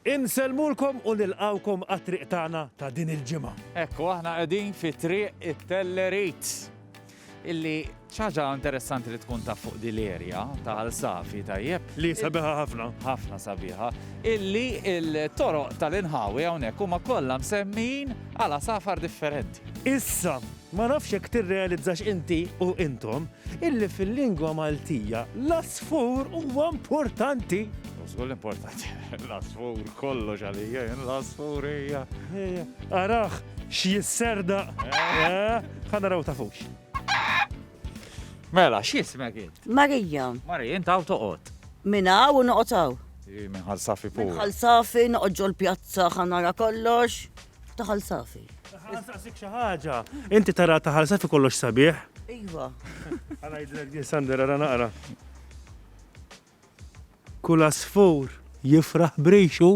Insellmulkom u nilqgħukom għat-triq tagħna ta' din il-ġimgħa. Hekk u aħna qegħdin fi triq it-Tellerit. Illi ċaġa interessanti li tkun taf fuq din l-erja ta' għal safi tajjeb. Li sabiħa ħafna. Ħafna sabiħa. Illi il-toroq tal-inħawi hawnhekk huma kollha msemmin għala safar differenti. Issa, Ma nafx jekk tirrealizzax inti u intom illi fil-lingwa Maltija l-għasfur huwa importanti! U żgur li importanti, l-għasfur kollox għalija jien l-għasfur hija. Arah x'jisserdaq! Ħa naraw tafux. Mela, x'jismek int? Marija. Marija, int hawn toqgħod. Minn hawn u noqgħod hawn. Hi minn Ħal Safi pura. Ħal Safi noqgħod ġol pjazza ħa nara kollox. Taħal safi. Nistaqsik xi ħaġa. Inti tara taħal safi kollox sabiħ? Iva. Għala jidlek din Sander ara naqra. Kull asfur jifraħ brixu.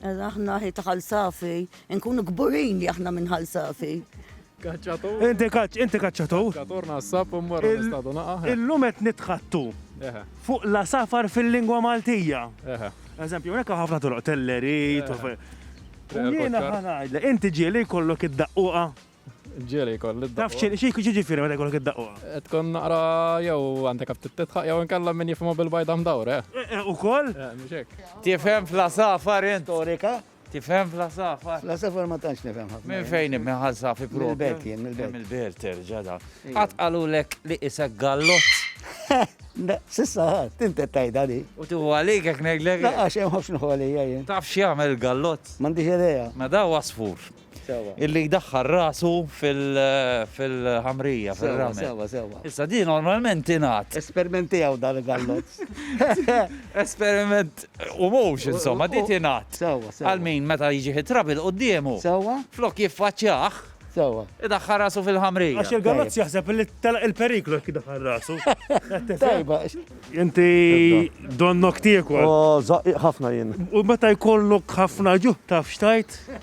Aħna ħi taħal safi, nkunu gburin li aħna minn ħal safi. Kaċċatu. Inti kaċċ, inti kaċċatu. Kaċċatur nassab u mmorru nistadu naqa. Illum qed nitħattu. Fuq la safar fil-lingwa Maltija. Eżempju, unek ħafna toroq telleri, Jiena ħanajdle, inti ġieli jkollok id-daqquqa. Ġieli jkollok id-daqquqa. Taf xie xie xie ġifiri meta jkollok id-daqquqa. Tkun naqra jew għandek għabtit titħaq jew nkella minn jifmu bil-bajda mdawre. U koll? Tifhem fl-safar int. Storika. Tifhem fl-għasafar? Fl-għasafar ma tantx nifhem ħafna. Minn fejn minn ħasafi propju? Mill-belt jien, mill-belt. Mill-belt terġa' da. Qatt qalulek li isek gallott? Sissa ħadd, inti tajda li. U tu għalik hekk ngħidlek? Laqax hemm ħafna għalija jien. Taf x'jagħmel gallott? M'għandix idea. Ma da wasfur. illi jdaħħal rasu fil-ħamrija, fil-ramel. Sewa, sewa. Issa di normalment ingħad. Esperiment tiegħu dan il-gallozz. Esperiment u mhux insomma, di tingħad. Sewa, sewa. Għal min meta jiġi ħitrab il-quddiemu. Sewa. Flok jiffaċċjah. Sewa. Idaħħal rasu fil-ħamrija. Għax il-gallozz jaħseb li telaq il-periklu jekk idaħħal rasu. Tajba. Inti donnok tiekol. Ħafna jien. U meta jkollok ħafna ġuħ taf xtajt?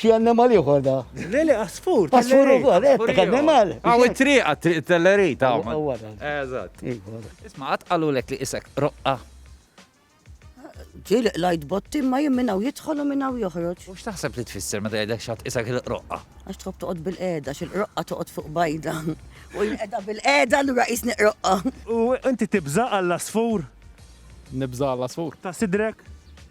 Xi annimal ieħor da? Le, le, għasfur. Għasfur ukoll, qed eh, annimal. Hawn it-triq għat-triq tellerit hawn. Eżatt. Isma' qatt qalulek li isek roqqa. Ġili lajt botti ma jien minnaw jidħol u minnaw joħroġ. U x'taħseb li tfisser meta jgħidlek xat isek il-roqqa? Għax tħobb toqgħod bil-qeda, xil-roqqa toqgħod fuq bajda. U l-qeda bil-qeda l-ura jisni roqqa. U inti tibża għall-asfur? Nibża għall-asfur. Ta' sidrek?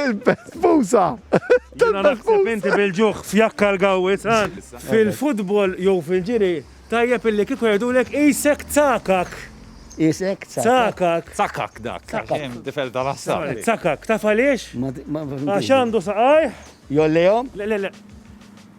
Il-pespusa! Tal-pespusa! Inti bil-ġuħ f'jakka l-gawwi san! Fil-futbol jew fil-ġiri, tajjeb illi kieku jgħidulek qisek tsakak! Qisek tsakak! Tsakak dak! Tsakak! Tifel tal-għassab! Tsakak! Taf għaliex? Għax għandu saqajh! Jollihom? Le, le, le!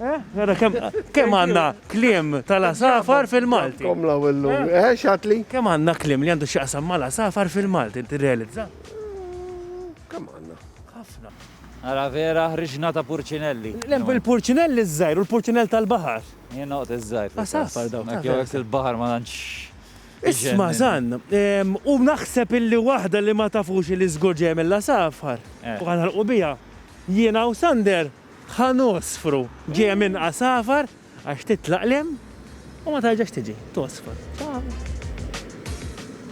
Nara kemm kemm għandna kliem tal-għasafar fil-Malti. Kom law illum. Eh, xatli? Kemm għandna kliem li għandu x'jaqsam mal-għasafar fil-Malti, inti rrealizza? Kemm għandna? Ħafna. Ara vera ħriġna ta' purċinelli. Lem il-purċinell iż-żgħir u l-purċinell tal-baħar. Jien noqgħod iż-żgħir. Asas. Far dawn. Jew hekk il-baħar ma tantx. Isma' Zan, em, u naħseb illi waħda li ma tafux li żgur ġejja mill-għasafar. Eh. U għanħalqu biha. Jiena u Sander Ħanosfru ġejja minn għasafar għax titlaq 'l hemm u ma terġax tiġi. Tosfar.